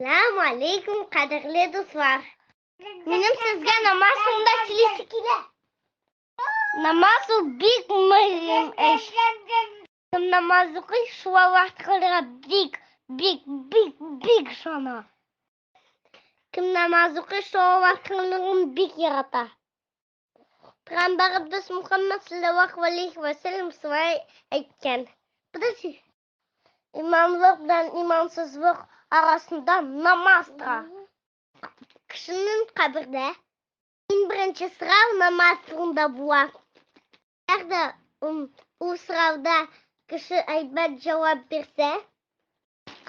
Сәлам алейкум, кадерле дуслар. Минем сезгә намаз соңында сөйлисе килә. Намаз ул бик мөһим эш. Кем намаз укый, шул Аллаһ Тәгаләгә бик, бик, бик, бик шана. Кем намаз укый, шул Аллаһ Тәгаләгә бик ярата. Пәйгамбәребез Мухаммад саллаллаху алейхи ва саллям шулай әйткән. Подожди. Имамлык белән имансызлык арасында намаз тора. Кешенең кабердә иң беренче сорау намаз турында була. Әгәр ул сорауда кеше әйбәт җавап бирсә,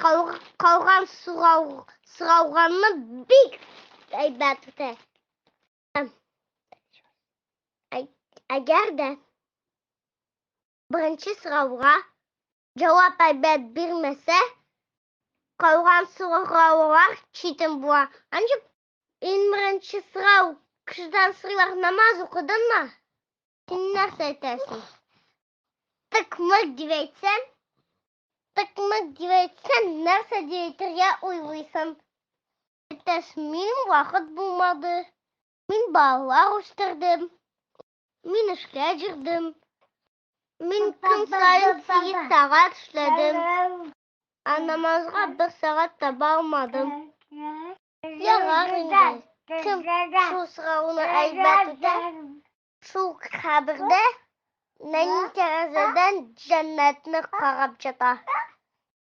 калган сорау сорауганны бик әйбәт үтә. Әгәр дә Беренче сорауга җавап әйбәт бирмәсә, калган сораулар читен була. Анчып, иң беренче сорау, кешедән сорыйлар, намаз укыдыңмы? Син нәрсә әйтәсең? Тык-мык дип әйтсәң, тык-мык дип әйтсәң, нәрсә дип әйтергә уйлыйсың? Әйтәсең, мин вакыт булмады, мин балалар үстердем, Мин эшкә җөрдем. Мин көн саен сигез сәгать эшләдем. Ә намазга бер сәгать таба алмадым. Ярар инде. Кем шул сорауны әйбәт үтә? Шул кабердә нәни тәрәзәдән җәннәтне карап ята.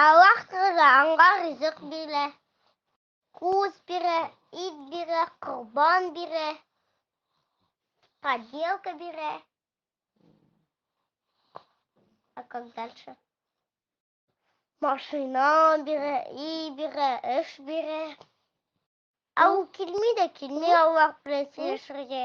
Аллаһ Тәгалә аңа ризык бирә, куз бирә, ит бирә, корбан бирә, поделка бирә. А как дальше? Машина бирә, и бирә, эш бирә. Ә ул килми дә килми Аллаһ белән сөйләшергә.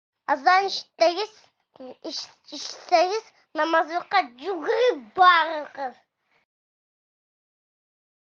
Азан ишетсәгез, ишетсәгез, намазлыкка йөгереп барыгыз.